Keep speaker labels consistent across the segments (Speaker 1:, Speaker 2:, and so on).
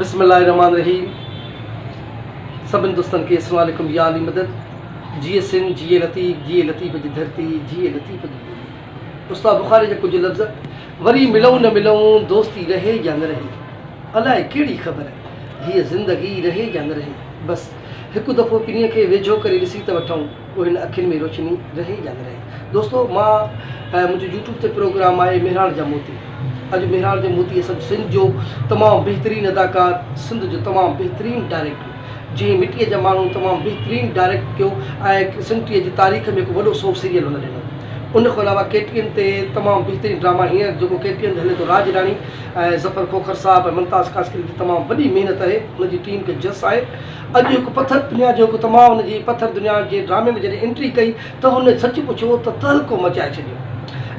Speaker 1: بسم الله الرحمٰن الرحيم سڀن دوستن کي اسلام عليڪم يا علي مدد جيئي سنڌ جيئي لطيف جيئي لطيف جي ڌرتي جيئي لطيف جي ٻولي استاد بخاري جا ڪجهه لفظ وري ملئون نه ملئون دوستي رهي يا نه رهي الاء ڪهڙي خبر هيء زندگي رهي يا نه رهي بس هڪ دفعو ڪنهن کي ويجهو ڪري ڏسي ته وٺئون او هن اکين ۾ روشني رهي يا نه رهي دوستو مان منهنجو يوٽيوب تي پروگرام آهي مهراڻ جا موتي اڄ مهراڻ جو موتي اسان سنڌ جو تمام بهترين اداڪار سنڌ جو تمام بهترين ڊائريڪٽر جنهن مٽيء جا ماڻهو تمام بهترين ڊائريڪٽ ڪيو ۽ سنڌ ٽي جي تاريخ ۾ هڪ وڏو سو سيريل هن ڏنو ان کان علاوه ڪي ٽي اين تي تمام بهترين ڊراما هينئر جيڪو ڪي ٽي اين تي هلي ٿو راڄ راڻي ۽ ظفر کوکر صاحب ۽ ممتاز قاسڪري جي تمام وڏي محنت آهي ان جي ٽيم کي جس آهي اڄ هڪ پٿر دنيا جو هڪ تمام ان جي پٿر دنيا جي ڊرامي ۾ جڏهن انٽري ڪئي ته هن سچ پڇو ته تهلڪو مچائي ڇڏيو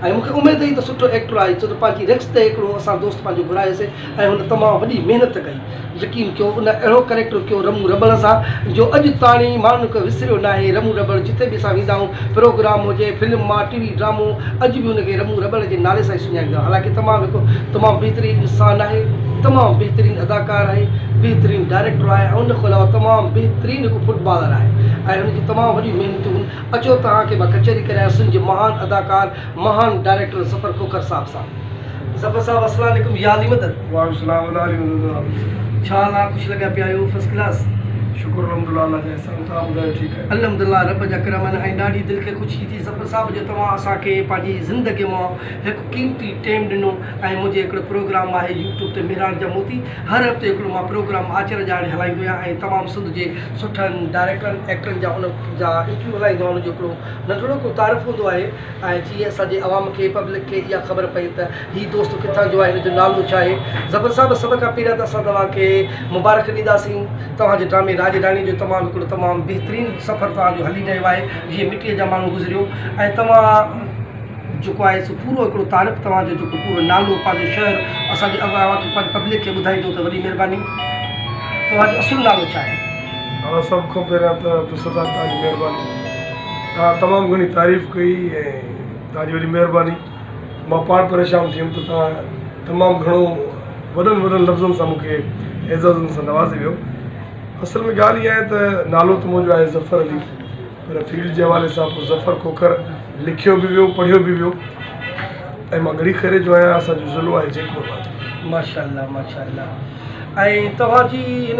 Speaker 1: ۽ مون کي اميد هئي ته سٺو ايڪٽر آهي ڇو ته پنهنجي ريڪس تي هڪڙو اسان دوست پنهنجو گهرائي سي ۽ هن تمام وڏي محنت ڪئي يقين ڪيو ان اهڙو ڪريڪٽر ڪيو رمون رٻڙ سان جو اڄ تاڻي ماڻهن ڪو وسريو ناهي رمون رٻڙ جتي به اسان ويندا آهيون پروگرام هجي، فلم مان ٽي وي ڊرامو اڄ به هن کي رمون رٻڙ جي نالي سان ئي سڃاڻيندا آهن. حالانڪه تمام هڪ تمام بهترين انسان آهي، تمام بهترين اداڪار آهي، بهترين ڊائريڪٽر آهي ۽ ان کان علاوه تمام بهترين هڪ فٽ بالر آهي ۽ هن جون تمام وڏيون محنتون اچو توهان کي مان ڪچهري ڪريان سنڌ جي مهان اداڪار مهان ڊائريڪٽر ظفر کوکر صاحب سان ظفر صاحب السلام عليڪم يا علي مدد. وعليڪم السلام ولا علي مدد ڇا حال آ خوش لڳيا پيا آهيو فرسٽ ڪلاس. شڪر الحمدالله
Speaker 2: الله جا احسان توهان ٻڌايو ٺيڪ آهيو. الحمدالله رب جا ڪرم
Speaker 1: آهن ۽ ڏاڍي دل کي خوشي ٿي ظفر صاحب جو توهان اسان کي پنهنجي زندگي مان هڪ قيمتي ٽيم ڏنو ۽ منهنجي هڪڙو پروگرام آهي يوٽيوب تي مهراڻ جا موتي هر هفتي هڪڙو مان پروگرام آچر جا اڻ هلائيندو آهيان ۽ تمام سنڌ جي سٺن ڊائريڪٽرن ايڪٽرن جا انهن جا انٽرويو هلائيندو آهيان انهن جو هڪڙو ننڍڙو ڪو تعارف هوندو آهي ۽ جيئن اسان جي عوام کي پبلڪ کي اها خبر پئي ته هي دوست ڪٿان جو آهي هن جو نالو ڇا آهي ظفر صاحب سڀ کان پهريان ته اسان توهان کي مبارڪ ڏينداسين توهان جي ڊرامي راڄ راڻي جو تمام هڪڙو تمام بهترين سفر توهان جو هلي رهيو آهي جيئن مٽيء جا ماڻهو گذريو ۽ توهان جيڪو آهي سو پورو هڪڙو تعارف توهان جو جيڪو پورو نالو پنهنجو شهر اسان جي عوام کي پبلڪ کي ٻڌائيندو ته وڏي مهرباني توهان جو اصل نالو ڇا آهي. اوهان سڀ کان
Speaker 2: پهريان ته عبدالستار توهان جي مهرباني توهان تمام گهڻي تعريف ڪئي ۽ توهان جي وڏي مهرباني مان پاڻ پريشان ٿي ويم ته توهان تمام گهڻو وڏن وڏن لفظن سان مون کي اعزازن سان نوازي ويو اصل ۾ ڳالهه اها آهي ته نالو ته منهنجو آهي ظفر علي پر فيلڊ جي حوالي سان پوء ظفر کوکر لکيو به ويو پڙهيو به ويو ۽ مان ڳڙي خيري جو آهيان اسان جو ضلعو آهي جيت پور ماشاء الله ماشاء
Speaker 1: الله ۽ توهان جي هن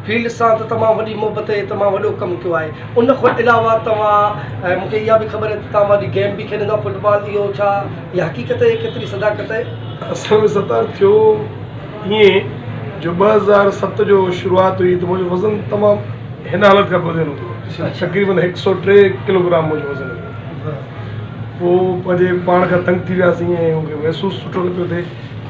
Speaker 1: فيلڊ سان ته تمام وڏي محبت ۽ تمام وڏو ڪم ڪيو آهي ان کان علاوه توهان مون کي اها به خبر آهي ته توهان وڏي گيم به کيڏندا آهيو فٽ بال اهو ڇا اها حقيقت آهي ڪيتري صداقت آهي اصل ۾ ستار
Speaker 2: ٿيو ائين جو ٻه هزار ست جو شروعات هئي ته منهنجو وزن تمام هن حالت کان وڌيل هوندو هو تقريبن هڪ سؤ ٽي ڪلوگرام منهنجو وزن هوندو هو پوء پنهنجي پاڻ کان تنگ ٿي وياسين ۽ مون کي محسوس سٺو نه پيو ٿئي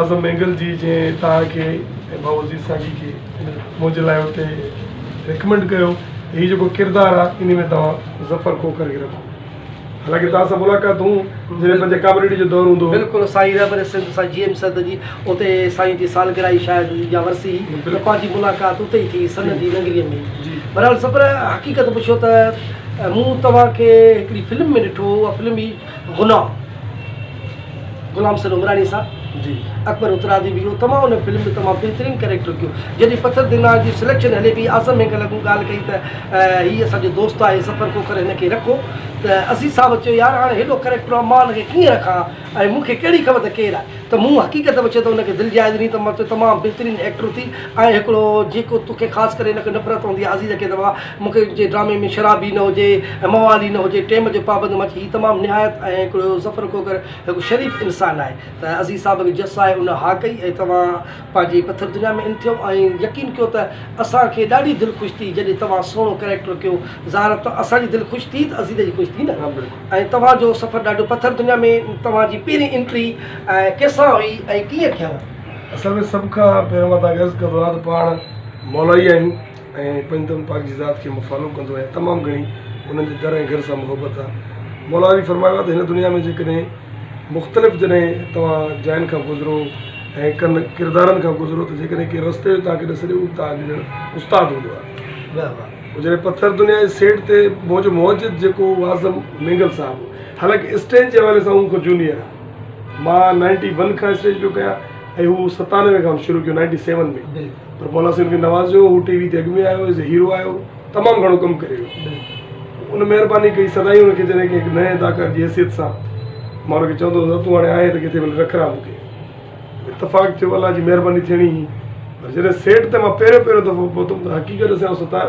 Speaker 2: اعظم مينگل جي جنهن توهان کي ۽ ڀائو عزيز ساقي کي منهنجي لاء اتي ريڪمنڊ ڪيو ته هي جيڪو ڪردار آهي انهي ۾ توهان ظفر کوکر کي رکو حالانڪه توهان سان ملاقاتون جڏهن پنهنجي ڪامريڊي جو دور هوندو هو. بلڪل سائين رهبر
Speaker 1: سنڌ سائين جي ايم سرد جي اتي سائين جي سالگرهه هئي شايد يا ورسي هئي ته پنهنجي ملاقات اتي ئي ٿي سن جي ننگري ۾ بهرحال ظفر حقيقت پڇو ته مون توهان کي هڪڙي فلم ۾ ڏٺو هو اها فلم هئي غلام غلام سر عمراڻي صاحب جي اڪبر اترادي به اهو تمام ان فلم جو تمام بهترين ڪيريڪٽر ڪيو جڏهن پٿر دينار جي سليڪشن هلي پئي اعظم مينگل اڳو ڳالهه ڪئي ته هي اسان جو دوست آهي سفر کوکر هن کي رکو ته عزيز صاحب چيو يار هاڻي هيڏو ڪيريڪٽر آهي مان هن کي ڪيئن رکان ۽ مون کي ڪهڙي خبر ته ڪير آهي ته مون حقيقت پڇي ته ان کي دل جائي ڏني ته مان چيو تمام بهترين ايڪٽر ٿي ۽ هڪڙو جيڪو توکي خاص ڪري هن کي نفرت هوندي آهي عزيز کي ته بابا مون کي جي ڊرامي ۾ شرابي نه هجي ۽ موالي نه هجي ٽيم جو پابند هئڻ هي تمام نهايت ۽ هڪڙو ظفر کوکر هڪ شريف انسان آهي ته عزيز صاحب کي جس آهي ان ها ڪئي ۽ توهان پنهنجي پٿر دنيا ۾ ان ٿيو ۽ يقين ڪيو ته اسان کي ڏاڍي دل خوش ٿي جڏهن توهان سهڻو ڪريڪٽر ڪيو ظاهر ته اسان جي دل خوش ٿي ته عزيز جي خوش ٿي نه ۽ توهان جو سفر ڏاڍو پٿر دنيا ۾ توهان جي پهرين انٽري ڪيسان هئي ۽ ڪيئن ٿيو.
Speaker 2: اصل
Speaker 1: ۾
Speaker 2: سڀ کان پهريون مان توهان کي عرض
Speaker 1: ڪندو
Speaker 2: آهيان ته پاڻ مولائي آهيون. ۽ پنج تن پاڪ جي ذات کي مفالو ڪندو آهيان تمام گهڻي انهن جي در ۽ گهر سان محبت آهي مولا علي فرمايو آهي ته هن دنيا ۾ جيڪڏهن مختلف جڏهن توهان جاين کان گذرو ۽ ڪن ڪردارن کان گذرو ته جيڪڏهن ڪنهن رستي جو توهان کي ڏس ڏي اهو به توهان جو ڄڻ استاد هوندو آهي هو جڏهن پٿر دنيا جي سيٽ تي منهنجو موجد جيڪو هو اعظم مينگل صاحب هو حالانڪه اسٽيج جي حوالي سان هو مون کان جونيئر آهي مان نائنٽي ون کان اسٽيج پيو ڪيان ۽ هو ستانوي کان شروع ڪيو نائنٽي سيون ۾ پر مولا سين کي نوازيو هو ٽي وي تي اڳ ۾ آيو ايز اي هيرو آيو تمام گهڻو ڪم ڪري ويو ان مهرباني ڪئي سدائين ان کي جڏهن ڪنهن نئين اداڪار جي حيثيت سان مان ان کي چوندو هوس تون هاڻي آهين ته ڪٿي وڃي رکرا مون کي اتفاق ٿيو الله جي مهرباني ٿيڻي هئي پر جڏهن سيٽ تي مان پهريون پهريون دفعو پهتم ته حقيقت ڏسيائون ستار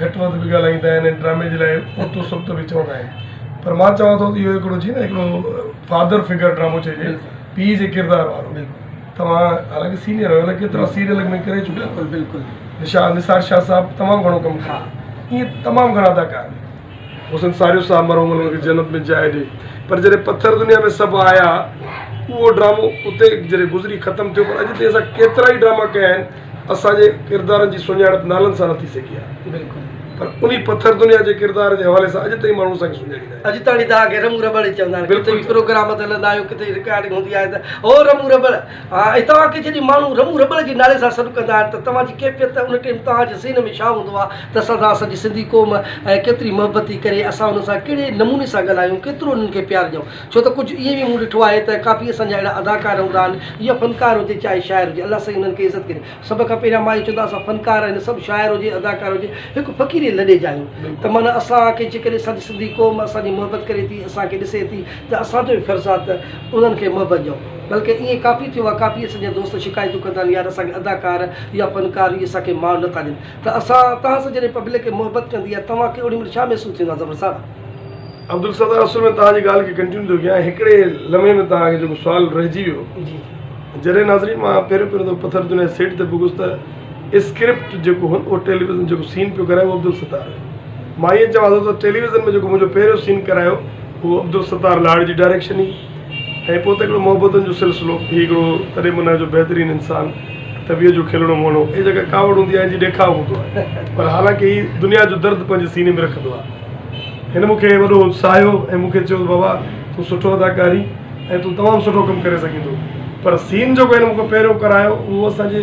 Speaker 2: گهٽ وڌ به ڳالهائيندا آهن ۽ ڊرامي جي لاء اوتو سبت به چوندا آهن پر مان چوان ٿو ته اهو هڪڙو جي نه هڪڙو فادر فگر ڊرامو چئجي پيء جي ڪردار وارو توهان حالانڪه سينئر آهيو الائي ڪيترا سيريل ۾ ڪري چڪا آهيو بلڪل بلڪل
Speaker 1: نثار شاهه
Speaker 2: صاحب تمام گهڻو ڪم ڪيو اهي تمام گهڻا اداڪار حسن ساريو صاحب مرحوم انهن کي جنت ۾ جاء ڏي پر جڏهن پٿر دنيا ۾ سڀ آيا اهو ڊرامو اتي جڏهن گذري ختم ٿيو پر اڄ تائين اسان ڪيترا ئي ڊراما ڪيا آهن اسان جي ڪردارن جي سڃاڻپ نالن سان نه ٿي سگهي آ. بلڪل. پر انهي
Speaker 1: پٿر
Speaker 2: دنيا جي ڪردار جي حوالي سان اڄ تائين ماڻهو اسان کي سڃاڻيندا آهن. اڄ تائين تهان کي رمون رٻڙ
Speaker 1: ئي چوندا آهن. بلڪل. ڪٿي به پروگرام تي هلندا آهيو ڪٿي رڪارڊنگ هوندي آهي ته هو رمون رٻڙ. ها ۽ توهان کي جڏهن ماڻهو رمون رٻڙ جي نالي سان سڏ ڪندا آهن ته توهان جي ڪيفيت ته ان ٽيم توهان جي ذهن ۾ ڇا هوندو آ ته اسان سان اسان جي سنڌي قوم ۽ ڪيتري محبت ٿي ڪري اسان انهن سان ڪهڙي نموني سان ڳالهايون ڪيترو انهن کي پيار ڏيون. ڇو ته ڪجهه ائين به مون ڏٺو آهي ته ڪافي اسان جا اهڙا اداڪار هوندا آهن يا فنڪار هجي چاهي شاعر هجي الله سائين انهن کي عزت ڪري سڀ کان پهريان مان اهو چوندو آهيان اسان فنڪار هن سڀ شاعر هجي اداڪار هجي هڪ فقيري لڏي جا آهيون ته معنيٰ اسان کي جيڪڏهن اسان جي سنڌي قوم اسان جي محبت ڪري ٿي اسان کي ڏسي ٿي ته اسان جو به فرض آهي ته انهن کي محبت ڏيون بلڪه ائين ڪافي ٿيو آهي ڪافي اسان جا دوست شڪايتون ڪندا آهن يار اسان کي اداڪار يا فنڪار اهي اسان کي مان نٿا ڏين ته اسان توهان سان جڏهن پبلڪ محبت ڪندي آهي توهان کي اوڏي مهل ڇا محسوس ٿيندو آهي زفر صاحب عبدالستار
Speaker 2: اصل ۾ توهان جي ڳالهه کي ڪنٽينيو ٿو ڪيان هڪڙي لمحي ۾ توهان کي جيڪو سوال رهجي ويو جي
Speaker 1: جڏهن ناظرين
Speaker 2: مان پهريون پهريون دفعو پٿر دنيا سيٽ تي پڳس ته اسڪرپٽ جيڪو هو اهو ٽيليويزن جيڪو سين پيو ڪرائي اهو عبدالستار هيو مان ائين چوان ٿو ته ٽيليويزن ۾ جيڪو منهنجو پهريون سين ڪرايو اهو عبدالستار لاڙ جي ڊائريڪشن هئي ۽ پوء ته هڪڙو محبتن جو سلسلو. هي هڪڙو تڏهن منهه جو بهترين انسان، طبيعت جو کلڻو مهڻو ۽ جيڪا ڪاوڙ هوندي آهي ان جي ڏيکاء هوندو آهي پر حالانڪه هي دنيا جو درد پنهنجي سيني ۾ رکندو آهي. هن مون کي وڏو ساهيو ۽ مون کي چيو ته بابا تون سٺو اداڪار هين ۽ تون تمام سٺو ڪم ڪري سگهين ٿو پر سين جيڪو هن مون کان پهريون ڪرايو اهو اسان جي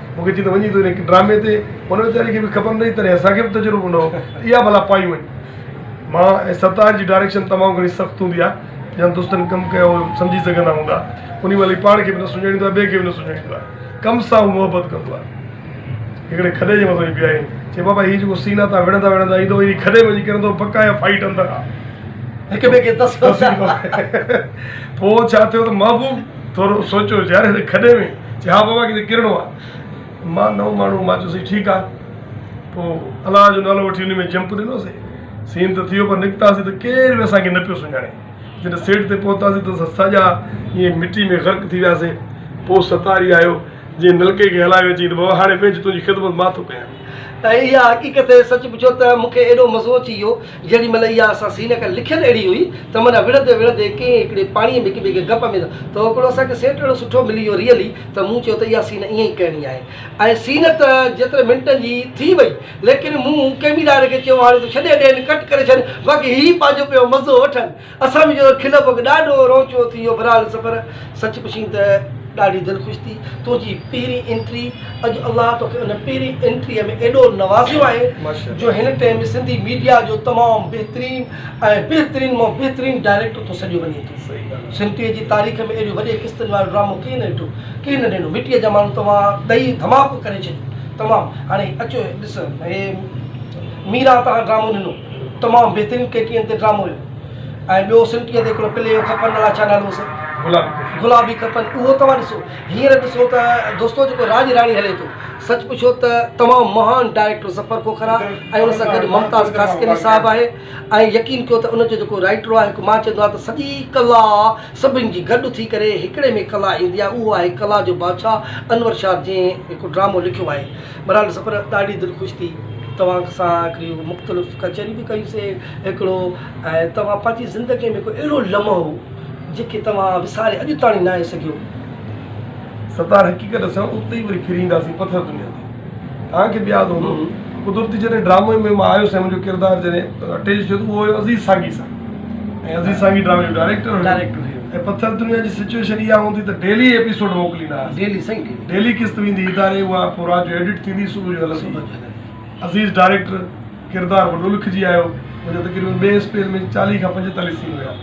Speaker 2: مون کي چيائين ته وڃي تون هن ڊرامي تي هن ويچاري کي به خبر نه هئي تڏهن اسان کي به تجربو نه هو ته اها ڀلا پائي وڃ مان ۽ ستار جي ڊائريڪشن تمام گهڻي سخت هوندي آهي جن دوستن ڪم ڪيو هو اهي سمجهي سگهندا هوندا انهي مهل هي پاڻ کي به نه سڃاڻيندو آهي ٻئي کي به نه سڃاڻيندو آهي ڪم سان هو محبت ڪندو آهي هڪڙي کڏي جي مٿان وڃي بيهائين چي بابا هي جيڪو سين آهي تان وڙهندا وڙهندا ايندو انهي کڏي ۾ وڃي ڪرندو پڪا يا فائيٽ اندر آهي هڪ ٻئي کي تسڪو ٿيا پوء ڇا ٿيو ته محبوب ٿورو سوچيو يار هن کڏي ۾ چي ها بابا ڪٿي ڪرڻو آ مان نئون ماڻهو مان چيوسين ٺيڪ آ پو الله جو نالو وٺي انهي ۾ جمپ ڏنوسين سين ته ٿيو پر نڪتاسين ته ڪير به اسان کي نه پيو سڃاڻي جڏهن سيٽ تي پهتاسين ته اسان ساڄا ائين مٽي ۾ غرق ٿي وياسين پو ستاري آيو جنهن نلڪي کي هلايو چيائين ته بابا هاڻي ويهه تنهنجي خدمت مان ٿو ڪيان. ۽ اها حقيقت سچ پڇو ته مون کي ايڏو مزو اچي ويو جيڏي مهل اها اسان سينه ڪن لکيل اهڙي هئي ته معنيٰ وڙهندي وڙهندي ڪنهن هڪڙي پاڻي ۾ هڪ ٻئي کي گپ ۾ ته هڪڙو اسان کي سيٽ اهڙو سٺو ملي ويو ريئلي ته مون چيو ته اها سينه ائين ئي ڪرڻي آهي ۽ سينه ته جيترن منٽن جي ٿي وئي ليڪن مون ڪئميرائر کي چيو هاڻي تون ڇڏي ڏين ڪٽ ڪري ڇڏ باقي هي پنهنجو پيو مزو وٺن اسان ۾ جو کلپ اڳ ڏاڍو روچو ٿي ويو برحال سفر سچ پڇين ته ڏاڍي
Speaker 1: دل خوش ٿي تنهنجي پهرين انٽري اڄ الله توکي ان پهرين انٽري ۾ ايڏو نوازيو آهي جو هن ٽيم سنڌي ميڊيا جو تمام بهترين ۽ بهترين مان بهترين ڊائريڪٽر ٿو سڏيو وڃي ٿو سنٽري جي تاريخ ۾ ايڏي وڏي قسطن وارو ڊرامو ڪنهن نه ڏٺو ڪنهن نه ڏنو مٽي جا ماڻهو توهان ڏئي ڌماڪو ڪري ڇڏيو تمام هاڻي اچو ڏسو هي ميرا توهان ڊرامو ڏنو تمام بهترين ٽي ٽي اين تي ڊرامو هيو ۽ ٻيو سم ٽي اين تي هڪڙو پلي هيو کپن الاء ڇا نالو هوس گلابي کپن اهو توهان ڏسو هينئر ڏسو ته دوستو جيڪو راڄ راڻي هلي ٿو سچ پڇو ته تمام مهان ڊائريڪٽر ظفر کوکرا ۽ ان سان گڏ ممتاز قاسقلي صاحب آهي ۽ يقين ڪيو ته ان جو جيڪو رائيٽر آهي هڪ مان چوندو آهي ته سڄي ڪلا سڀن جي گڏ ٿي ڪري هڪڙي ۾ ڪلا ايندي آهي اهو آهي ڪلا جو بادشاهه انور شاهه جنهن هڪ ڊرامو لکيو آهي برحال سپر ڏاڍي دل خوش ٿي توهان سان هڪڙيون مختلف ڪچهريون به ڪيون سي هڪڙو ۽ توهان پنهنجي زندگي ۾ هڪڙو اهڙو لمحو جيڪي توهان وساري اڄ تاڻي ناهي سگهيو.
Speaker 2: ستار حقيقت اسان اتي ئي وري ڦري اينداسين پٿر دنيا تي توهان کي به ياد هوندو قدرتي جڏهن ڊرامي ۾ مان آيو سين منهنجو ڪردار جڏهن اٽيچ ٿيو ته اهو هيو عزيز سانگي سان ۽ عزيز سانگي ڊرامي جو ڊائريڪٽر هيو ڊائريڪٽر هيو ۽ پٿر دنيا جي سچوئيشن اها هوندي ته ڊيلي ايپيسوڊ موڪليندا هئاسين ڊيلي سائين ڊيلي ڊيلي قسط ويندي اداري اها پوء رات جو ايڊٽ ٿيندي صبح جو هلندي صبح جو هلندي عزيز ڊائريڪٽر ڪردار وڏو لکجي آيو منهنجا تقريبن ٻئي اسپيل ۾ چاليهه کان پنجيتاليهه سين هيا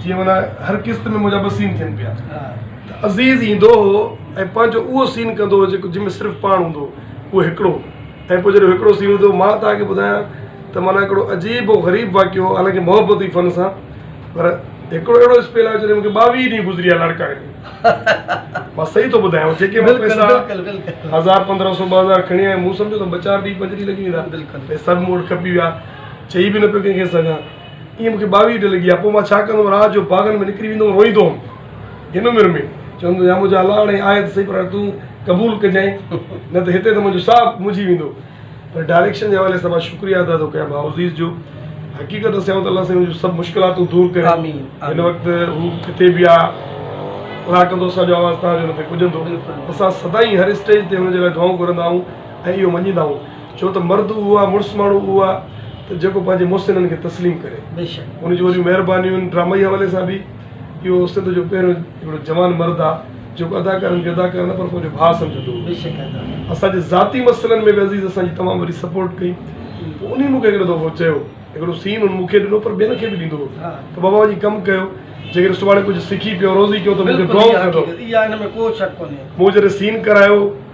Speaker 2: جيئن معنيٰ هر قسط ۾ منهنجا ٻه سين ٿين پيا ها ته عزيز ايندو هو ۽ پنهنجو اهو سين ڪندو هو جيڪو جنهن ۾ صرف پاڻ هوندو هو اهو هڪڙو ۽ پوء جڏهن هڪڙو سين هوندو مان توهان کي ٻڌايان ته معنيٰ هڪڙو عجيب و غريب واقعو هو حالانڪه محبتي فن سان پر هڪڙو اهڙو اسپيل آيو جڏهن مونکي ٻاويهه ڏينهن گذري ويا لڙڪائڻ ۾ مان صحيح ٿو ٻڌايان جيڪي مون پئسا هزار پندرهن سو ٻه هزار کڻي آيم مون سمجهيو ته ٻه چار ڏينهن پنجري لڳي ويندا سڀ مون وٽ کپي ويا چئي به نه پيو ڪنهن کي سگهان ائين مون کي ٻاويهه ڊي لڳي آ پوء مان ڇا ڪندم رات جو باغن ۾ نڪري ويندو هوم روئيندو هوم هن عمر ۾ چوندو يا منهنجا الله هاڻي آهي ته سهي پر هاڻي تون قبول ڪجانء نه ته هتي ته منهنجو ساهه مجهي ويندو پر ڊائريڪشن جي حوالي سان مان شڪريا ادا ٿو ڪيان ڀاءعزيز جو حقيقت ته سيوت الله سائين جو سڀ مشڪلاتون دور ڪري آمين هن وقت هو ڪٿي به آ خدا ڪندو اسان جو آواز تهان جو هن تي پڄندو اسان سدائين هر اسٽيج تي هن جي لاء دعائون گهرندا آهون ۽ اهو مڃيندا آهون ڇو ته مرد اهو آهي، مڙس ماڻهو اهو آهي ته جيڪو پنهنجي محسنن کي تسليم ڪري. ان جون وڏيون مهربانيون آهن. ڊرامائي حوالي سان به اهو سنڌ جو پهريون هڪڙو جوان مرد آهي، جيڪو اداڪارن کي اداڪار نه پر پنهنجو ڀاء سمجهندو هو. اسان جي ذاتي مسئلن ۾ به عزيز اسان جي تمام وڏي سپورٽ ڪئي. پوء انهي مون کي هڪڙو دفعو چيو، هڪڙو سين هن مون کي ڏنو پر ٻين کي به ڏيندو هو ته بابا وڃي ڪم ڪيو، جيڪڏهن سڀاڻي ڪجهه سکي پيو، روزي ڪيو ته مون کي ڊرائونگ ڪندو. مون جڏهن سين ڪرايو.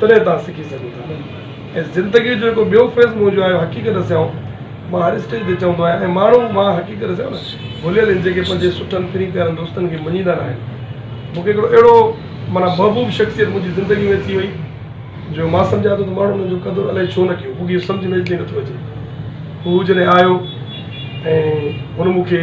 Speaker 2: تڏهن توهان سکي سگهو ٿا ۽ زندگي جو جيڪو ٻيو فيز مون جو آهي حقيقت سيائون مان هر اسٽيج تي چوندو آهيان ۽ ماڻهو مان حقيقت سيائون نه ڀليل آهن جيڪي پنهنجي سٺن پھرين پيارن دوستن کي مڃيندا ناهن مون کي هڪڙو اهڙو معنيٰ محبوب شخصيت منهنجي زندگي ۾ اچي وئي جو مان سمجهان ٿو ته ماڻهن ان جو قدر الائي ڇو نه ڪيو مون کي اهو سمجهه ۾ اچي نٿو اچي هو جڏهن آيو ۽ هن مون کي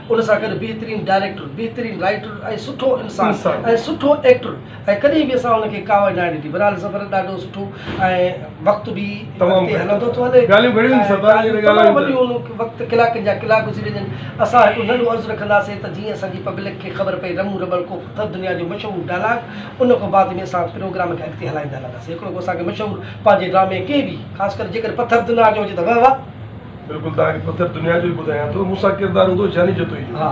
Speaker 2: ان سان گڏ بهترين ڊائريڪٽر، بهترين رائيٽر ۽ سٺو انسان ۽ سٺو ايڪٽر ۽ ڪڏهن به اسان ان کي ڪاوڙ ناهي ڏني بھرحال سفر ڏاڍو سٺو ۽ وقت به اڳتي هلندو ٿو هلي ڳالهيون گهڻيون آهن سفر جي ته ڳالهيون تمام وڏيون ان وقت ڪلاڪن جا ڪلاڪ گذري وڃن اسان هڪڙو ننڍو عرض رکنداسين ته جيئن اسان جي پبلڪ کي خبر پئي رمون رٻڙ ڪو پٿر دنيا جو مشهور ڊائلاگ ان کان بعد ۾ اسان پروگرام کي اڳتي هلائيندا هلنداسين هڪڙو ڪو اسان کي مشهور پنهنجي ڊرامي ڪنهن به خاص ڪري جيڪڏهن پٿر دنيا جو هجي ته وهه وهه بلڪل توهان کي پٿر دنيا جو ئي ٻڌايان ٿو مون سان ڪردار هوندو جاني جتوئي جو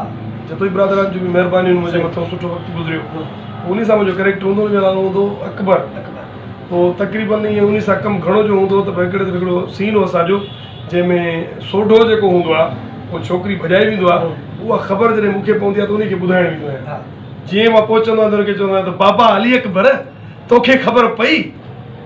Speaker 2: جتوئي برادران جون به مهربانيون منهنجي مٿو سٺو وقت گذريو پوء انهي سان منهنجو ڪريڪٽر هوندو انهي جو نالو هوندو هو اڪبر پوء تقريبن ائين انهي سان ڪم گهڻو جو هوندو هو ته هڪڙي دفعي هڪڙو سين هو اسان جو جنهن ۾ سوڍو جيڪو هوندو آهي ڪو ڇوڪري ڀڄائي ويندو آهي اها خبر جڏهن مون کي پوندي آهي ته انهي کي ٻڌائڻ ويندو آهيان جيئن مان پهچندو آهيان ته انهي کي چوندو آهيان ته بابا علي اڪبر توکي خبر پئي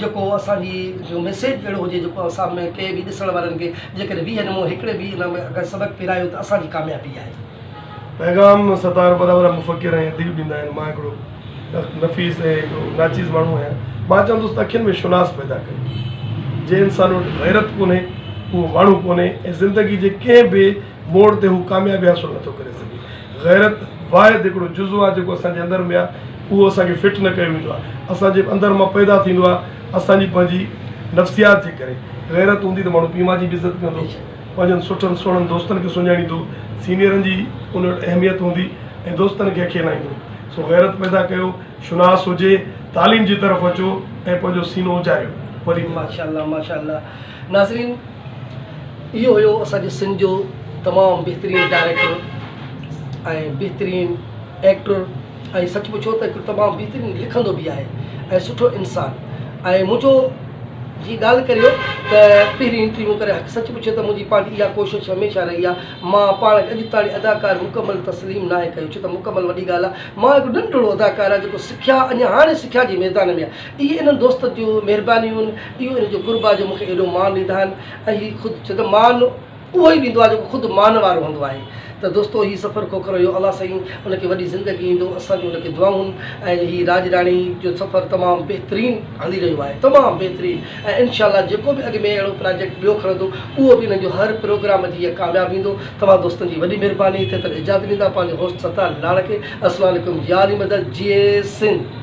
Speaker 1: جيڪو اسان جي جو ميسيج اهڙو هجي جيڪو اسان ۾ ڪنهن به ڏسڻ وارن کي جيڪڏهن ويهه نمون هڪڙي به ان ۾ اگر سبق پيرايو ته اسان جي ڪاميابي آهي. پيغام
Speaker 2: ستار وڏا وڏا مفڪر ۽ اديب ڏيندا آهن مان هڪڙو نفيس ۽ هڪڙو ناچيز ماڻهو آهيان مان چوندس ته اکين ۾ شوناس پيدا ڪريو جنهن انسان وٽ غيرت ڪونهي اهو ماڻهو ڪونهي ۽ زندگي جي ڪنهن به موڙ تي هو ڪاميابي حاصل نه ٿو ڪري سگهي. غيرت واحد هڪڙو جزو آهي جيڪو اسان جي اندر ۾ آهي اهو اسان کي فٽ نه ڪيو ويندو آهي اسان جي اندر مان پيدا ٿيندو آهي اسان جي پنهنجي نفسيات جي ڪري غيرت هوندي ته ماڻهو پيء ماء جي به عزت ڪندو پنهنجن سٺن سهڻن دوستن کي سڃاڻيندو سينيئرن جي ان وٽ اهميت هوندي ۽ دوستن کي اکيلائيندو سو غيرت پيدا ڪيو شناس هجي تعليم جي طرف اچو ۽ پنهنجو سينو اجايو وري ماشاء الله ماشاء
Speaker 1: الله. ناظرين اهو هيو اسان جي سنڌ جو تمام بهترين ڊائريڪٽر ۽ بهترين ايڪٽر ۽ سچ پڇو ته هڪ تمام بهترين لکندو به آهي ۽ سٺو انسان ۽ منهنجو جي ڳالهه ڪريو ته پهرين انٽرويو ڪري حق سچ پڇو ته منهنجي پنهنجي اها ڪوشش هميشه رهي آهي مان پاڻ کي اڄ تاڻي اداڪار مڪمل تسليم ناهي ڪيو ڇو ته مڪمل وڏي ڳالهه آهي مان هڪ ننڍڙو اداڪار آهي جيڪو سکيا اڃا هاڻي سکيا جي ميدان ۾ آهي اهي انهن دوستن جون مهربانيون، اهو انهن جو قرب آهي جو مون کي ايڏو مان ڏيندا آهن ۽ هي خود ڇو ته مان اهو ئي ڏيندو آهي جيڪو خود مان وارو هوندو آهي ته دوستو هي سفر کوکر هيو الله سائين ان کي وڏي زندگي ڏيندو اسان جون ان کي دعائون ۽ هي راڄ راڻي جو سفر تمام بهترين هلي رهيو آهي تمام بهترين ۽ انشاء الله جيڪو به اڳ ۾ اهڙو پراجيڪٽ ٻيو کڻندو اهو به انهن جو هر پروگرام جيئن ڪامياب ويندو توهان دوستن جي وڏي مهرباني ٿي تڪ اجازت ڏيندا پنهنجو هوسٽ ستار لاڙڪي اسلام عليڪم ياري مدد جئي سنڌ.